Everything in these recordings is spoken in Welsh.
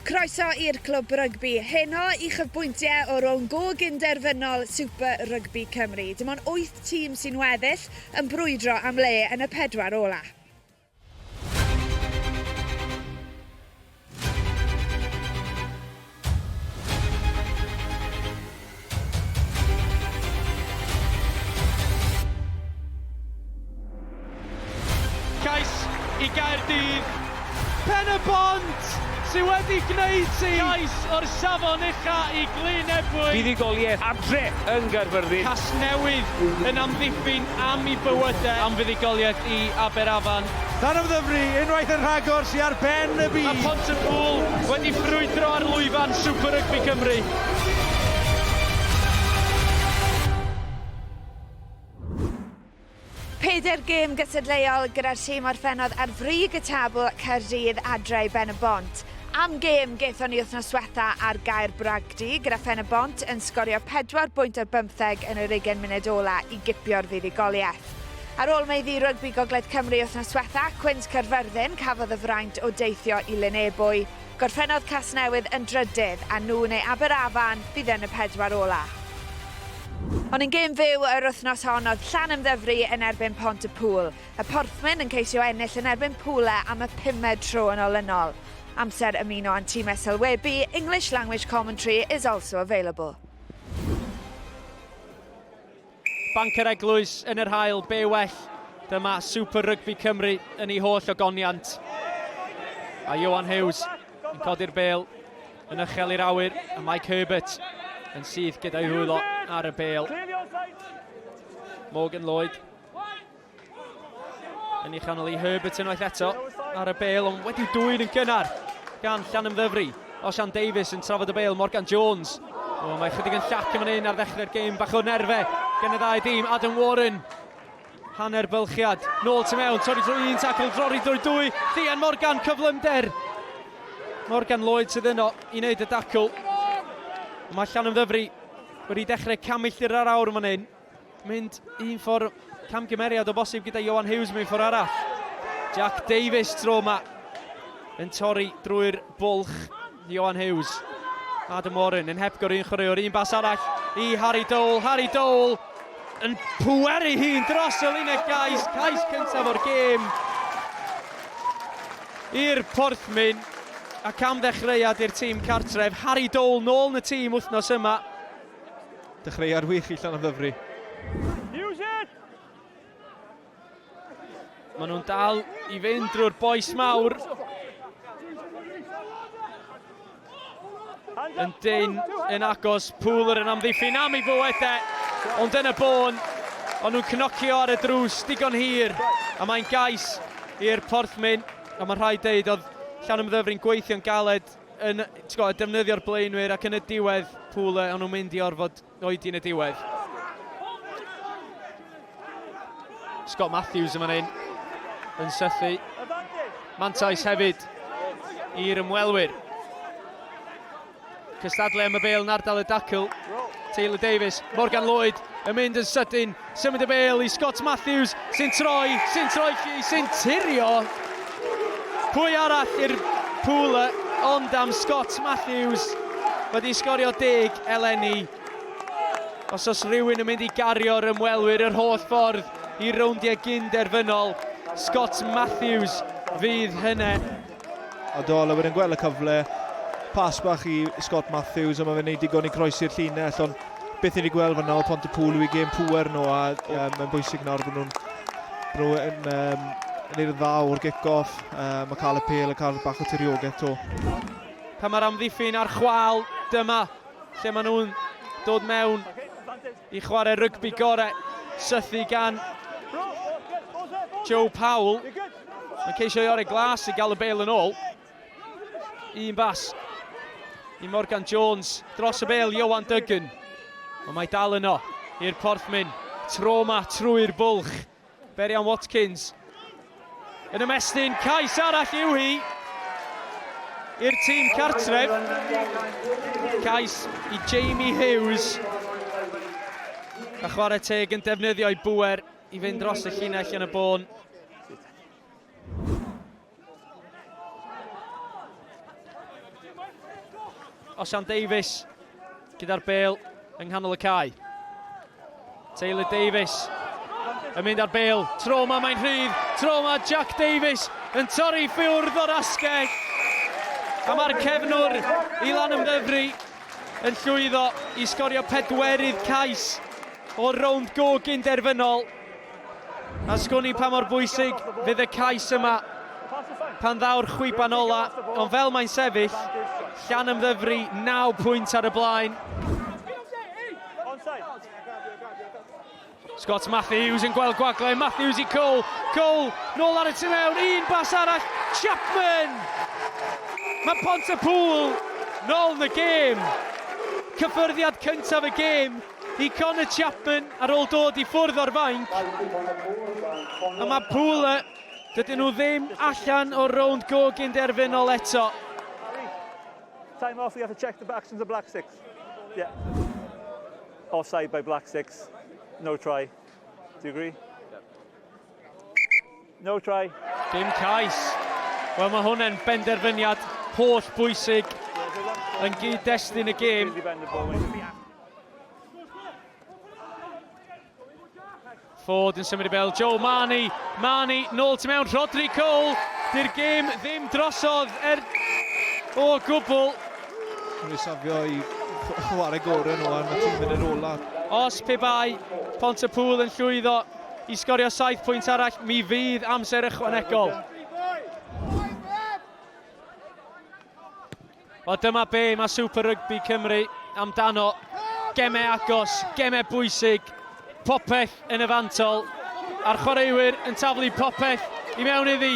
Croeso i'r Clwb Rygbi heno i chyfbwyntie o rownd go gyn-derfynol Super Rygbi Cymru. Dim ond wyth tîm sy'n weddill yn brwydro am le yn y pedwar ola. Cais i Gaerdydd. Pen-y-bont sydd wedi gwneud ti! Cais o'r safon ucha i Glyn Ebwy. Buddugoliaeth adre yn Gaerfyrddin. Casnewydd yn amddiffyn am i bywydau. Am fuddugoliaeth i Aberafan. Llanymddyfri unwaith yn rhagor sy ar ben y byd. A Phont-y-pŵl wedi ffrwydro ar lwyfan Super Rygbi Cymru. Pedair gêm gystadleuol gyda'r tîm orffennodd ar frig y tabl Caerdydd adre i Ben y Bont. Am gêm gaethon ni wythnos diwetha ar Gaer Bragdy gyda Phen y Bont yn sgorio 4 bwynt ar bymtheg yn yr ugen munud ola i gipio'r fuddugoliaeth. Ar ôl meiddi rygbi Gogledd Cymru wythnos diwetha, Cwins Caerfyrddin cafodd y fraint o deithio i Lyn Ebwy. Gorffennodd Casnewydd yn drydydd, a nhw neu Aberafan fydd yn y pedwar ola'. Ond yn gêm fyw yr wythnos hon oedd Llanymddyfri yn erbyn Pont-y-pŵl. Y Porthmyn yn ceisio ennill yn erbyn Pwle am y pumed tro yn olynol. Amser ymuno â'n timau sylwebu, English language commentary is also available. Banc yr Eglwys yn yr haul, be well, dyma Super Rygbi Cymru yn ei holl ogoniant. A Johan Hughes yn codi'r bel yn ychel i'r awyr, a Mike Herbert yn syth gyda'i rwylo ar y bel. Morgan Lloyd Yn ei chanol i Herbert unwaith eto ar y bel ond wedi'w dwyn yn gynnar gan Llan Ymddyfri. Osian Davies yn trafod y bel, Morgan Jones. O, mae chydig yn llac yn fan hyn ar ddechrau'r gêm, bach o nerfe gen y ddau dîm. Adam Warren, hanner bylchiad, nôl tu mewn, torri drwy un tacl, drori drwy dwy, Llian Morgan, cyflymder. Morgan Lloyd sydd yno i wneud y dacl. Mae Llan Ymddyfri wedi dechrau camilltir ar awr yn fan hyn. Mynd un ffordd camgymeriad o bosib gyda Ioan Hughes mewn ffordd arall. Jack Davies tro yma yn torri drwy'r bwlch Ioan Hughes. Adam Warren yn hepgor un chwaraewr, un bas arall i Harry Dole. Harry Dole yn pweru hi'n dros y linell gais, cais cyntaf o'r gêm i'r Porthmyn ac am ddechreuad i'r tîm cartref. Harry Dole nôl yn y tîm wythnos yma Dechreuad wych i Llanymddyfri. Maen nhw'n dal i fynd drwy'r boes mawr. Yn dyn, yn agos, Pŵlwr yn amddiffyn am ei fywyd e. Ond yn y bôn, ond nhw'n cnocio ar y drws digon hir. A mae'n gais i'r porthmyn. A mae'n rhaid deud, oedd Llanymddyfri'n gweithio'n galed yn tgod, defnyddio'r blaenwyr ac yn y diwedd pŵl o'n nhw'n mynd i orfod oedi yn y diwedd. Scott Matthews yma hyn yn sythu. Mantais hefyd i'r ymwelwyr. Cystadlu am y bel yn ardal y dacl. Taylor Davies, Morgan Lloyd yn mynd yn sydyn Symud y bêl i Scott Matthews sy'n troi, sy'n troi chi, sy'n tirio. Pwy arall i'r pŵl ond am Scott Matthews wedi sgorio deg eleni. Os os rhywun yn mynd i gario'r ymwelwyr yr holl ffordd i rowndiau gyn-derfynol, Scott Matthews fydd hynny. A Doyle wedyn gweld y cyfle. Pas bach i Scott Matthews, ond mae fe'n gwneud digon i groesi'r llinell, ond beth ni wedi gweld fyna o Pont y Pŵl yw i gêm pŵer nhw, a um, mae'n bwysig nawr bod nhw'n nhw yn um, neud dda o'r gic-off, uh, mae cael y pel yn cael bach o tiriogaeth to. Pan mae'r amddiffyn a'r chwal, dyma lle maen nhw'n dod mewn i chwarae rygbi gorau, sythu gan Joe Powell. Mae'n ceisio i Ore Glas i gael y bel yn ôl. Un bas i Morgan Jones. Dros y bel, Iowan Duggan. Ond mae dal yno i'r porthmyn. Tro ma trwy'r bwlch. Berian Watkins yn ymestyn, cais arall yw hi i'r tîm cartref. Cais i Jamie Hughes. A chwarae teg yn defnyddio'i bwer I fynd dros y llinell yn y bôn. Osian Davies gyda'r bel yng nghanol y cae. Taylor Davies yn mynd ar bel. Tro yma mae'n rhydd. Tro yma Jack Davies yn torri ffwrdd o'r asgell. A mae'r cefnwr i lan ymddyfru yn llwyddo i sgorio pedwerydd cais O'r rownd gog yn derfynol, a sgwn i pa mor bwysig fydd y cais yma pan ddaw'r chwiban ola, ond fel mae'n sefyll, Llanymddyfri 9 pwynt ar y blaen. Scott Matthews yn gweld gwagle, Matthews i Cole, Cole nôl ar y tu mewn, un bas arall, Chapman! Mae Pont y Pŵl nôl yn y gêm. Cyffyrddiad cyntaf y gêm i Conor Chapman ar ôl dod i ffwrdd o'r fainc. A mae Pula, dydyn nhw ddim allan o'r rownd go gynderfynol eto. Time off, you have to check the actions of Black Six. Yeah. Offside by Black Six. No try. Do you agree? No try. Dim cais. Wel, mae hwnna'n benderfyniad holl bwysig yn gyd-destun y gêm. Ford yn symud i fel Joe Marnie. Marnie, nôl tu mewn, Rodri Cole. Dy'r gêm ddim drosodd er o gwbl. Rwy'n safio i chwarae gorau nhw am y tîm yn yr ola. Os pe bai Pont y Pŵl yn llwyddo i sgorio saith pwynt arall, mi fydd amser ychwanegol. Wel, dyma be mae Super Rugby Cymru amdano. Gemau agos, gemau bwysig, popeth yn y fantol, a'r chwaraewyr yn taflu popeth i mewn iddi.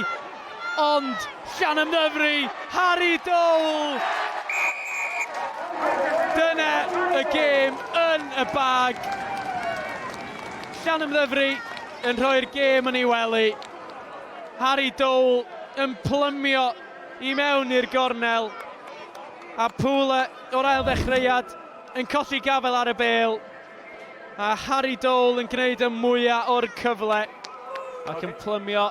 Ond, llan ymddyfru, Harry Dole! Dyna y gêm yn y bag. Llanymddyfri yn rhoi'r gêm yn ei wely. Harry Dole yn plymio i mewn i'r gornel. A Pule o'r ail ddechreuad yn colli gafael ar y bêl. A Harry Dole yn gwneud y mwyaf o'r cyfle. Ac yn plymio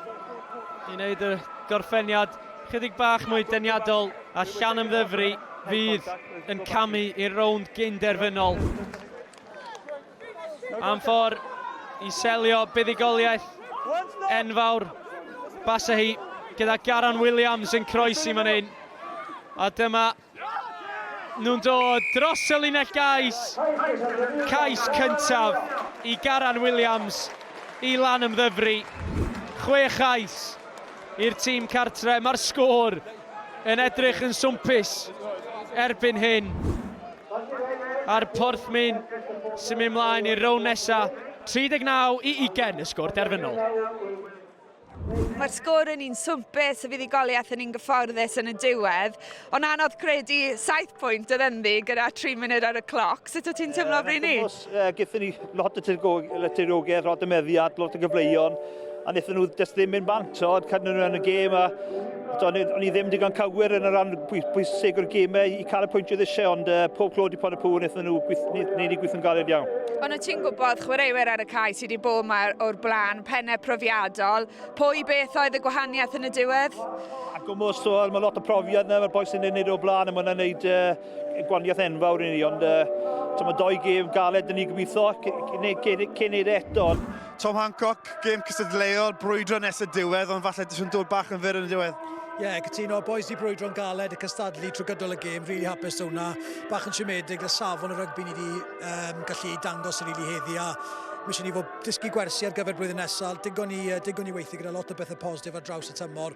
i wneud y gorffeniad chydig bach mwy deniadol. A Llanymddyfri fydd yn camu i'r rownd gyn-derfynol. Am ffordd i selio buddugoliaeth enfawr Basahi gyda Garon Williams yn croesi fan hyn. A dyma nhw'n dod dros y linell gais. Cais cyntaf i Garan Williams i lan ymddyfru. Chwe chais i'r tîm cartre. Mae'r sgôr yn edrych yn swmpus erbyn hyn a'r Porthmyn sy'n mynd mlaen i'r rown nesa 39 i 20 y sgôr derfynol. Mae'r sgôr yn un swmpus, y fuddugoliaeth yn un gyfforddus yn y diwedd, ond anodd credu saith pwynt oedd ynddi gyda tri munud ar y cloc. Sut wyt ti'n teimlo, Bryni? Gyda ni lot o tiriogaeth, lot o meddiad, lot o gyfleuon, a wnaethon nhw jyst ddim mynd bant, o, cadw nhw yn y gêm, a o'n i ddim digon cywir yn y rhan bwysig o'r gymau i cael y pwynt oedd eisiau, ond uh, pob clod i pon y pŵr, wnaethon nhw wneud i gweithio'n galed iawn. Ond wyt ti'n gwybod, chwaraewyr ar y cae sydd wedi bod yma o'r blaen, pennau profiadol, pwy beth oedd y gwahaniaeth yn y diwedd? Ac o mor sôl, mae lot o profiad yna, mae'r boes yn ei wneud o'r blaen, a mae'n wneud uh, Gwaniaeth enfawr i ni, ond uh, mae doi gêm galed yn ni gobeithio cyn neud e eto. Tom Hancock, gêm cystadleuol, brwydro nes y diwedd, ond falle ddysgwn dod bach yn fyr yn y diwedd. Ie, yeah, cytuno, boys di brwydro'n galed y cystadlu trwy gydol y gêm, really hapus o hwnna. Bach yn siomedig, y safon y rygbi ni wedi um, gallu dangos yn really heddi, a Mae eisiau ni fod dysgu gwersi ar gyfer blwyddyn nesaf. Digon ni, uh, digon ni weithio gyda lot o bethau positif ar draws y tymor.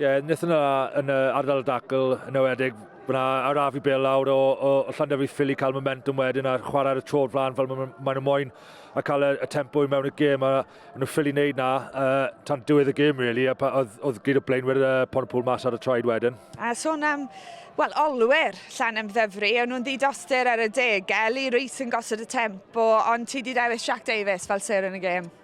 Ie, wnaethon nhw yn y ardal dacl yn ewedig, fyna araf i bel lawr o, o, o Llanderfi Ffili cael momentum wedyn a chwarae ar y tro flan fel maen ma nhw moyn a cael y, y tempo i mewn y gêm a nhw ffili wneud na uh, tan diwedd y gêm really a pa, oedd, oedd gyd o blaenwyr uh, Pontypool mas ar y traed wedyn. A sôn am, wel, olwyr llan am ddyfru, o'n nhw'n ddidoster ar y deg, Eli Rees yn gosod y tempo, ond ti di dewis Jack Davis fel ser yn y gêm.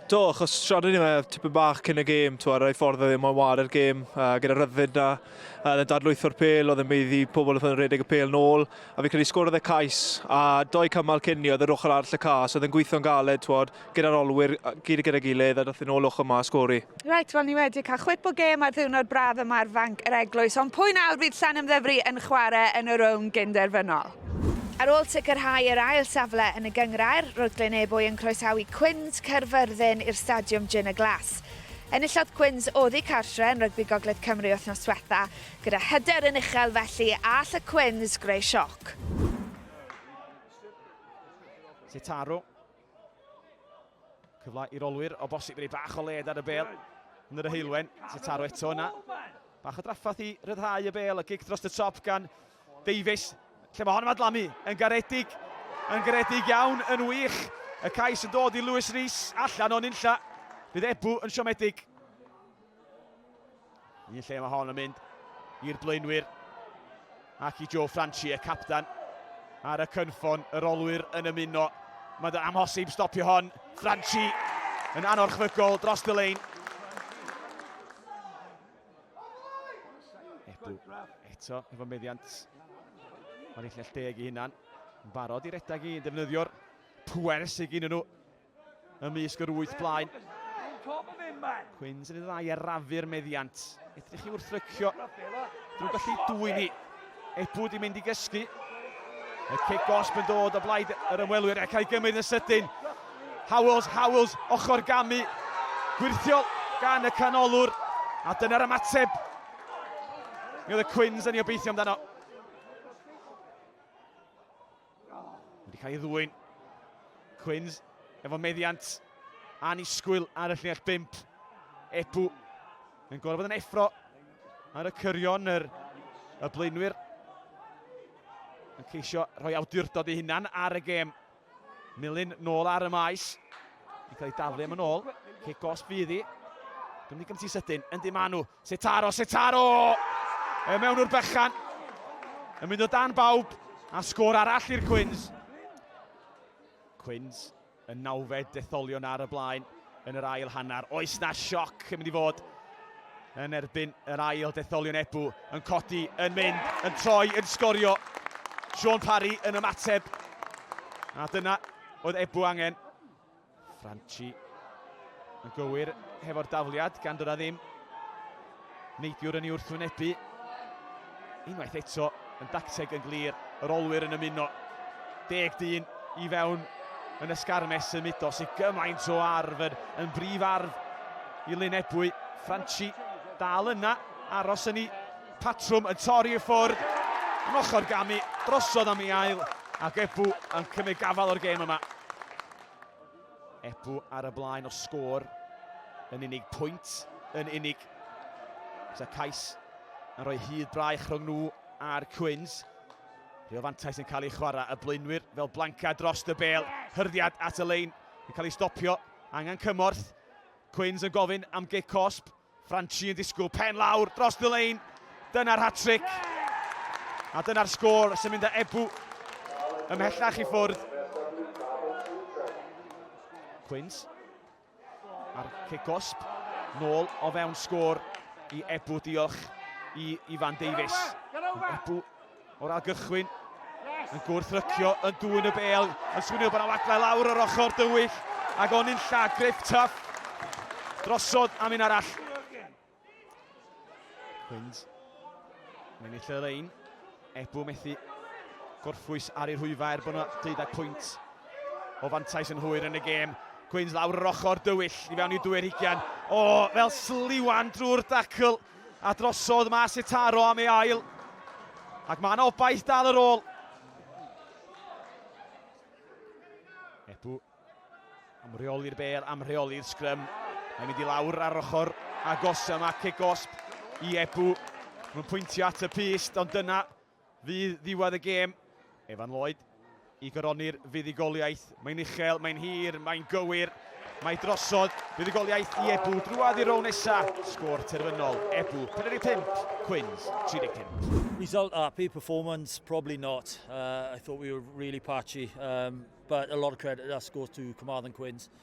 Do, achos siarad ni fe tipyn bach cyn y gêm, twa, rai ffordd oedd e moyn ware'r gêm, uh, gyda rhyddid na, uh, oedd e'n dadlwytho'r pel, oedd e'n meiddi pobl oedd yn redeg y pel nôl, a fi'n credu sgwrodd e cais, a doi cymal cyn ni oedd yr ochr arall y cas, oedd e'n gweithio'n galed, twod, gyda'r olwyr, gyd gyda gilydd, a dath yn ôl ochr ma a sgori. Reit, wel ni wedi cael chwip o gêm ar ddiwrnod braf yma ar fanc yr eglwys, ond pwy nawr fydd Llan Ymddyfri yn chwarae yn y rown gynderfynol? Ar ôl sicrhau yr ail safle yn y gynghrair, roedd Glynebwy yn croesawu Quins, Caerfyrddin, i'r Stadiwm Jin y Glas. Enillodd Quins oddi cartre yn Rygbi Gogledd Cymru wythnos diwetha', gyda hyder yn uchel felly a all y Quins greu sioc. Sitaru. Cyfle i'r olwyr o bosib rei bach o led ar y bel yn yr Heulwen. Sy'n taro eto yna. Bach o draffath i ryddhau y bel a gig dros y top gan Davies. Lle mae hon yn adlamu? Yn garedig. Yn garedig iawn, yn wych. Y cais yn dod i Lewis Rees allan o'n unlla. Bydd Ebu yn siomedig. Un lle mae hon yn mynd i'r blaenwyr ac i Joe Franchi, y captan ar y cynffon, yr olwyr yn ymuno. Mae'n amhosib stopio hon. Franchi yn anorchfygol dros y lein. Ebw eto efo meddiant ar ei llell deg i hunan. Yn barod i redag i yn defnyddio'r pwer sydd gen nhw ymysg yr wyth blaen. Cwins yn ei ddau arafu'r meddiant. Edrych i wrthrycio. Drwy gallu dwy'n hi. Ebw di mynd i gysgu. Y cic gosb yn dod o blaid yr ymwelwyr ac ei gymryd yn sydyn. Howells, Howells, ochr gamu. Gwirthiol gan y canolwr. A dyna'r ymateb. Mi oedd y Cwins yn ei obeithio amdano. Wedi cael ei ddwyn. Quins efo meddiant annisgwyl ar y llinell bimp. Ebu yn gorfod yn effro ar y cyrion yr y blaenwyr yn ceisio rhoi awdurdod ei hunan ar y gêm. Milyn nôl ar y maes. Di cael ei daflu am yn ôl. Cic os fydd hi. Gymru gymti sydyn. Yndi maen nhw. Setaro, Setaro! E mewn o'r bychan. Yn mynd o dan bawb. A sgôr arall i'r Cwins. Cwins yn nawfed detholion ar y blaen yn yr ail hanner. Oes na sioc yn mynd i fod yn erbyn yr ail detholion Ebw yn codi, yn mynd, yn troi, yn sgorio. Sean Parry yn ymateb. A dyna Oedd Ebw angen. Franchi yn gywir hefo'r dafliad gan dod â ddim. Neidiwr yn ei wrthwynebu. Unwaith eto yn dacteg yn glir. Yr olwyr yn ymuno. Deg dyn i fewn yn y sgarmes symudo sy'n gymaint o arf yn, yn brif arf i Lyn Ebwy. Franchi dal yna, aros yn ei Patrwm yn torri i ffwrdd yn ochr gamu drosodd am ei ail ac Ebou yn cymryd gafael o'r gêm yma. Ebou ar y blaen o sgôr yn unig pwynt yn unig. Sa cais yn rhoi hyd braich rhwng nhw a'r Cwins. Rhyw fantais yn cael ei chwarae y blaenwyr fel blancad dros y bel. Hyrddiad at y lein yn cael ei stopio. Angen cymorth. Cwins yn gofyn am gic cosb. Franchi yn disgwyl pen lawr dros y lein. Dyna'r hat-tric. A dyna'r sgôr sy'n mynd â Ebou ymhellach i ffwrdd. Quins ar cic gosb. Nôl o fewn sgôr i Ebou. Diolch i Ifan Davies. Ebou O'r ail gychwyn, yn gwrthrycio yn dŵn y bel, yn swnio bod yna waglau lawr yr ochr dywyll, ac o'n i'n lla, Griff Tuff, drosodd am un arall. Hwynd, mae'n eitha y lein, Ebw methu gorffwys ar ei rhwyfa er bod yna deuddau pwynt o fantais yn hwyr yn y gêm. Gwyns lawr yr ochr dywyll i fewn i dwy'r hugian. O, fel sliwan drwy'r dacl. A drosodd mas i'r taro am ei ail. Ac mae'n obaith dal yr ôl. Ebu am reoli'r bel, am reoli'r sgrym. Mae'n mynd i lawr ar ochr agos yma, cic gosb i Ebu. Mae'n pwyntio at y pist, ond dyna Fydd ddiwedd y gêm, Evan Lloyd, i goroni'r fuddugoliaeth. Mae'n uchel, mae'n hir, mae'n gywir. Mae drosodd, buddugoliaeth i Ebu, drwad i'r rown nesa, sgôr terfynol, Ebu, 45, Quins, 35. Result happy, performance probably not. Uh, I thought we were really patchy, um, but a lot of credit that goes to Carmarthen Quins.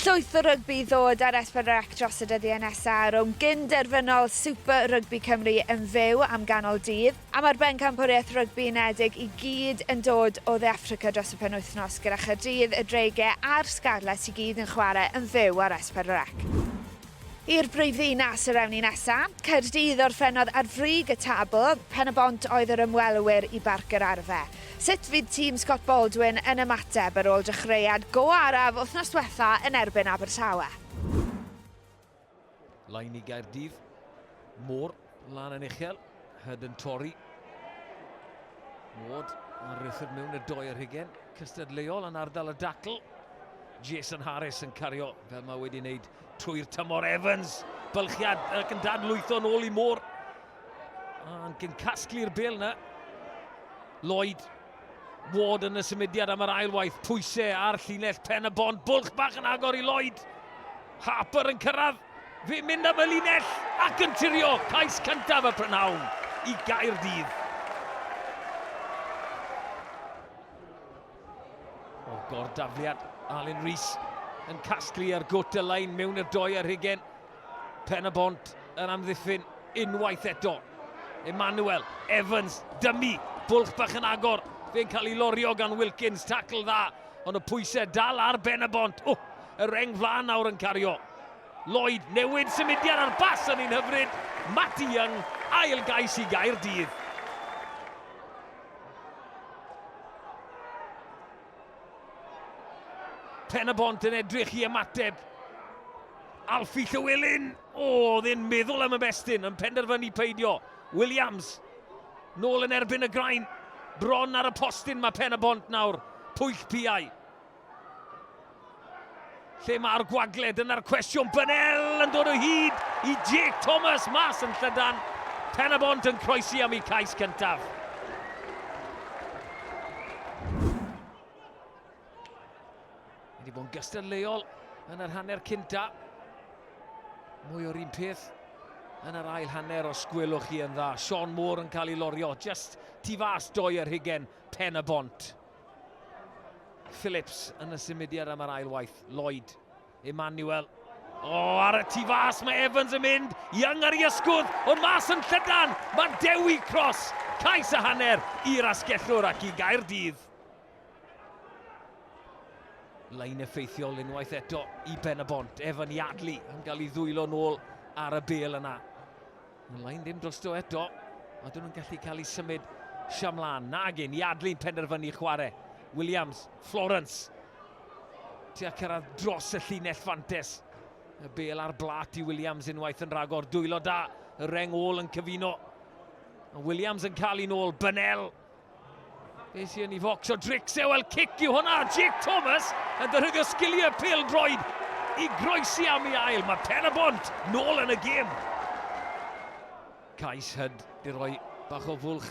Llwyth o rygbi i ddod ar S4C dros y dyddiau nesaf ar owm gyn-derfynol Super Rugby Cymru yn fyw am ganol dydd, a mae'r Bencampwriaeth Rygbi Unedig i gyd yn dod o Dde Affrica dros y penwythnos gyda Chaerdydd, y Dreigiau a'r Scarlets i gyd yn chwarae yn fyw ar S4C. I'r brifddinas yr ewn ni nesa'. Caerdydd orffennodd ar frig y tabl, Pen-y-bont oedd yr ymwelwyr i Barc yr Arfe. Sut fydd tîm Scott Baldwin yn ymateb ar ôl dechreuad go araf wythnos diwetha' yn erbyn Abertawe? Lain i Gaerdydd, Moore. Lan yn uchel, Hyd yn torri. Ward ar rythyd mewn y doi ar hugen. Cystadleuol yn ardal y dacl. Jason Harris yn cario fel mae wedi wneud trwy'r tymor Evans. Bylchiad ac yn dadlwytho yn ôl i môr. Ac yn casglu'r bel yna. Lloyd Ward yn y symudiad am yr ail waith, pwyse ar llinell pen y bont, bwlch bach yn agor i Lloyd. Harper yn cyrraedd, fe mynd am y linell ac yn tirio cais cyntaf y prynhawn i Gaerdydd. O'r gordafliad, Alun Rees yn casglu ar gwt y lein mewn i'r doe ar hugen. Pen-y-bont yn amddiffyn unwaith eto. Emmanuel, Evans, dymu, bwlch bach yn agor. Fe'n cael ei lorio gan Wilkins, tacl dda, ond y pwysau dal ar ben y bont. Oh, y reng flaen nawr yn cario. Lloyd, newid symudiad ar bas yn un hyfryd. Matty Young, ail gais i gair dydd. Pen y bont yn edrych i ymateb. Alfie Llywelyn, o, oedd e'n meddwl am y bestyn, yn penderfynu peidio. Williams, nôl yn erbyn y grain, bron ar y postyn mae pen y bont nawr, pwyll piau. Lle mae'r gwagle? Dyna'r cwestiwn. Bennell yn dod o hyd i Jake Thomas mas yn llydan. Pen y bont yn croesi am ei cais cyntaf. Wedi bod yn gystadleuol yn yr hanner cynta. Mwy o'r un peth yn yr ail hanner os gwelwch chi yn dda. Sean Moore yn cael ei lorio, just tu fas doi yr hugen pen y bont. Phillips yn y symudiad am yr ail waith. Lloyd, Emmanuel. O, oh, ar y tu fas, mae Evans yn mynd. Young ar ei ysgwdd, ond mas yn llydan. Mae Dewi Cross, cais a hanner i'r asgellwr ac i Gaerdydd. Lein effeithiol unwaith eto i Ben y Bont. Evan Yardley yn cael ei ddwylo nôl ar y bel yna. Mae'n lain ddim drosto eto. A dyn nhw'n gallu cael ei symud siamlan. Nagin, Iadli'n penderfynu chwarae. Williams, Florence. Tua cyrraedd dros y llinell fantes. Y bel ar blat i Williams unwaith yn rhagor. Dwylo da, y reng ôl yn cyfuno. Williams yn cael un ôl, Bynel. Beth sy'n ei focsio Drixie, wel cic yw hwnna, Jake Thomas yn defnyddio sgiliau pêl droed i groesi am ei ail, mae Pen y Bont nôl yn y gêm. Cais hyd i roi bach o fwlch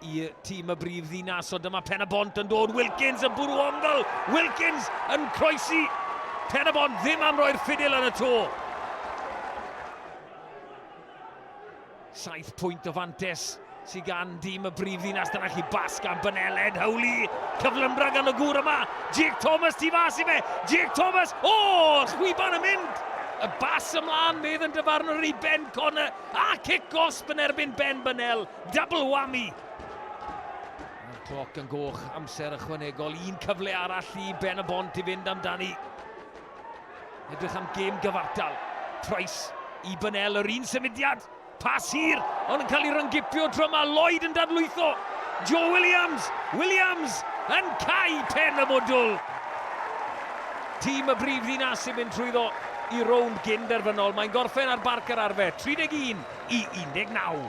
i tîm y brif ddinas, ond dyma Pen y Bont yn dod, Wilkins yn bwrw ongl, Wilkins yn croesi, Pen y Bont ddim am roi'r ffidil yn y to. Saith pwynt o fantes sydd gan dîm y brifddinas. Dyna chi bas gan Beneled, Howley, cyflymdra gan y gŵr yma. Jake Thomas tu fas i fe, Jake Thomas, o, oh, chwiban yn mynd. Y bas ymlaen, medd yn dyfarnwr i Ben Connor, a cic gosb yn erbyn Ben Benel, double whammy. Mae'r cloc yn goch, amser ychwanegol, un cyfle arall i Ben y Bont i fynd amdani. Edrych am gêm gyfartal. Trais i Bynel yr un symudiad. Pas hir, ond yn cael ei ryngipio tro yma. Lloyd yn dadlwytho. Joe Williams. Williams yn cau pen y modwl. Tîm y brif ddinas sy'n mynd trwyddo i rownd gyn derfynol. Mae'n gorffen ar barc yr arfer, 31 i 19.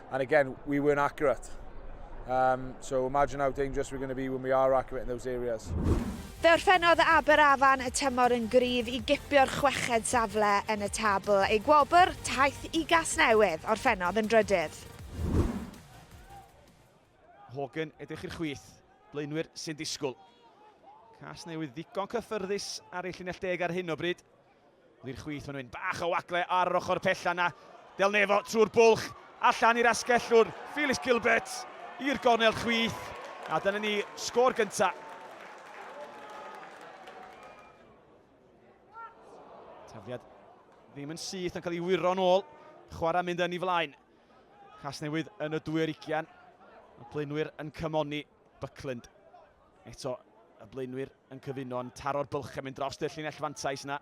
And again, we weren't accurate. Um, so imagine how dangerous we're going to be when we are accurate in those areas. Fe orffennodd Aberafan y tymor yn gryf i gipio'r chweched safle yn y tabl. Ei gwobr, taith i Gasnewydd, orffennodd yn drydydd. Hogan, edrych i'r chwith, blaenwyr sy'n disgwyl. Casnewydd ddigon cyffyrddus ar ei llinell deg ar hyn o bryd. Lir chwith fan hyn, bach o wagle ar yr ochr pella na. Del Nefo trwy'r bwlch, allan i'r asgellwr, Felix Gilbert i'r gornel chwith. A dyna ni sgôr gynta. Tafliad ddim yn syth yn cael ei wyro'n ôl. Chwarae mynd yn ei flaen. Casnewydd yn y dwy ar ugian. Y plynwyr yn cymoni. Buckland. Eto y blaenwyr yn cyfuno yn taro'r bylch yn mynd dros y llinell fantais yna.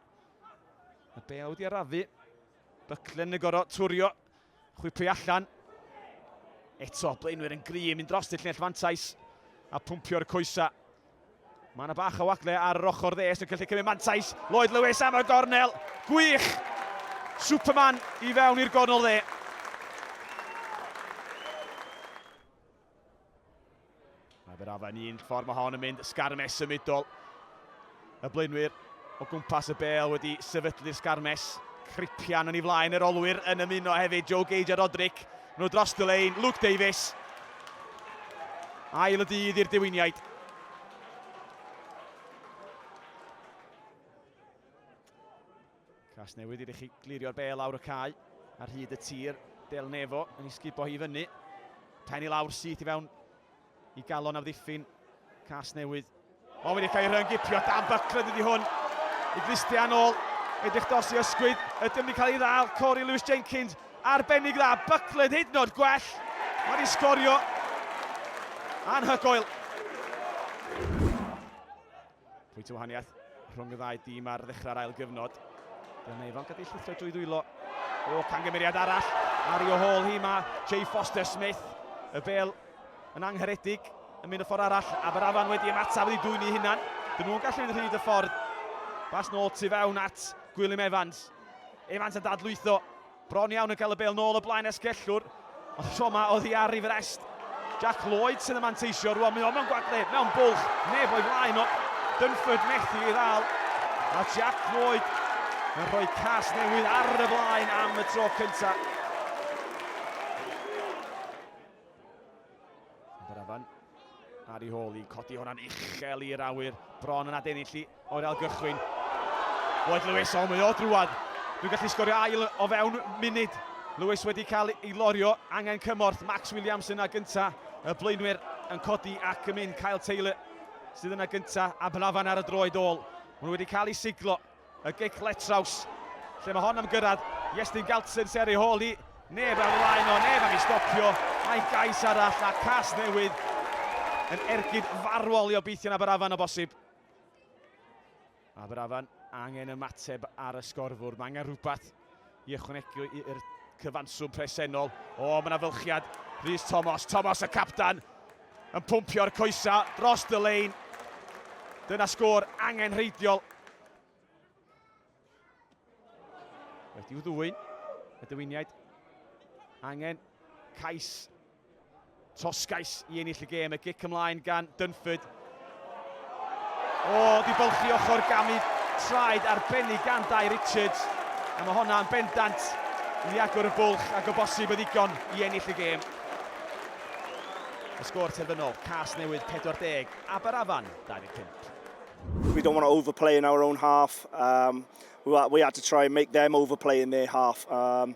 Y bel wedi arafu. Buckland yn gorau twrio. Chwipio allan. Eto blaenwyr yn gri yn mynd dros y llinell fantais a pwmpio'r coesa. Mae yna bach o wagle ar yr ochr ddes yn gallu cymryd mantais. Lloyd Lewis am y gornel. Gwych! Superman i fewn i'r gornel dde. Mae fe'r afa'n un ffordd mae hon yn mynd sgarmes symudol. Y blaenwyr o gwmpas y bel wedi sefydlu'r sgarmes. Cripian yn ei flaen yr olwyr yn ymuno hefyd Joe Gage a Roderick. Nhw dros y lein, Luke Davies. Ail y dydd i'r diwyniaid. Casnewydd i'r iechyd glirio'r bel lawr y cae ar hyd y tir. Del Nefo yn ei sgubo hi fyny. Pen i lawr syth i fewn i galon a ddiffyn Casnewydd. O, wedi cael ei ryngipio dan bycled ydi hwn. I Christian ôl, edrych dos i ysgwyd. Ydym wedi cael ei ddal, Corey Lewis Jenkins. Arbennig dda, bycled hyd nod gwell. Mae wedi sgorio anhygoel. Pwynt o wahaniaeth rhwng y ddau dîm ar ddechrau'r ail gyfnod. Dyna neu fel gadw llithro drwy ddwylo. O, cangymeriad arall ar ei ôl hi. Mae Jay Foster Smith, y bel yn angharedig, yn mynd y ffordd arall. Aberafan wedi ymataf wedi dwy'n ei hunan. Dyn nhw'n gallu mynd rhyd y ffordd. Bas nôl tu fewn at Gwilym Evans. Evans yn dadlwytho. Bron iawn yn cael y bêl nôl o blaen esgellwr, ond tro ma oddi ar ei frest. Jack Lloyd sydd yn manteisio rwan, mae o'n mewn gwagledd, mewn bwlch, neb o'i flaen o. Dunford methu ei ddal, a Jack Lloyd yn rhoi cas newydd ar y blaen am y tro cyntaf. Barafan ar ei hôl i codi hwnna'n uchel i'r awyr. Bron yn adennill i o'r algychwyn. Lloyd Lewis, o mae o drwad. Dwi'n gallu sgorio ail o fewn munud. Lewis wedi cael ei lorio, angen cymorth. Max Williams yna gynta, y blaenwyr yn codi ac yn mynd. Kyle Taylor sydd yna gynta, a Barafan ar y droed ôl. Maen nhw wedi cael ei siglo. Y gic letraws, lle mae hon am gyrraedd Iestyn Galtzen sy ar ei hôl hi. Neb ar flaen o, neb am ei stopio. Mae'n gais arall a cas newydd yn ergyd farwol i obeithion Aberafan o bosib. Aberafan angen ymateb ar y sgorfwrdd. Mae angen rhywbeth i ychwanegu i'r cyfanswm presennol. O, mae yna fylchiad. Rhys Tomos, Tomos y captan, yn pwmpio'r coesa dros y lein. Dyna sgôr angenrheidiol. Wedi'w ddwyn, y dywiniaid. Angen cais Toscais i ennill y gêm, y gic ymlaen gan Dunford. O, di bylchu ochr gamu traed arbennig gan Dai Richards, a mae honna yn bendant i agor y bwlch ac o bosib y ddigon i ennill y gêm. Y sgôr terfynol, Cas Newydd 40, Aberafan 25. We don't want to overplay in our own half. Um, we, we had to try and make them overplay in their half. Um,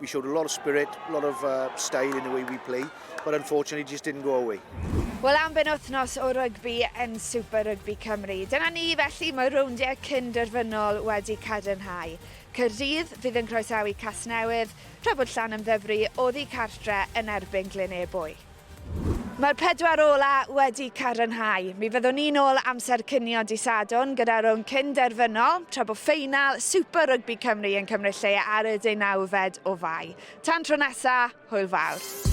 We showed a lot of spirit, a lot of uh, style in the way we play, but unfortunately just didn't go away. Wel, am ben wythnos o rygbi yn Super Rygbi Cymru. Dyna ni felly, mae rowndiau cyn derfynol wedi cadarnhau. Cyrdydd fydd yn croesawu Casnewydd, tra bod Llan Ymddyfri oddi cartre yn erbyn Glyn Ebwy. Mae'r pedwar ola wedi cadarnhau. Mi fyddwn ni'n ôl amser cinio dy Sadwrn gyda rownd cyn derfynol, tra bo ffeinal Super Rygbi Cymru yn cymryd lle ar y deunawfed o Fai. Tan tro nesa, hwyl fawr.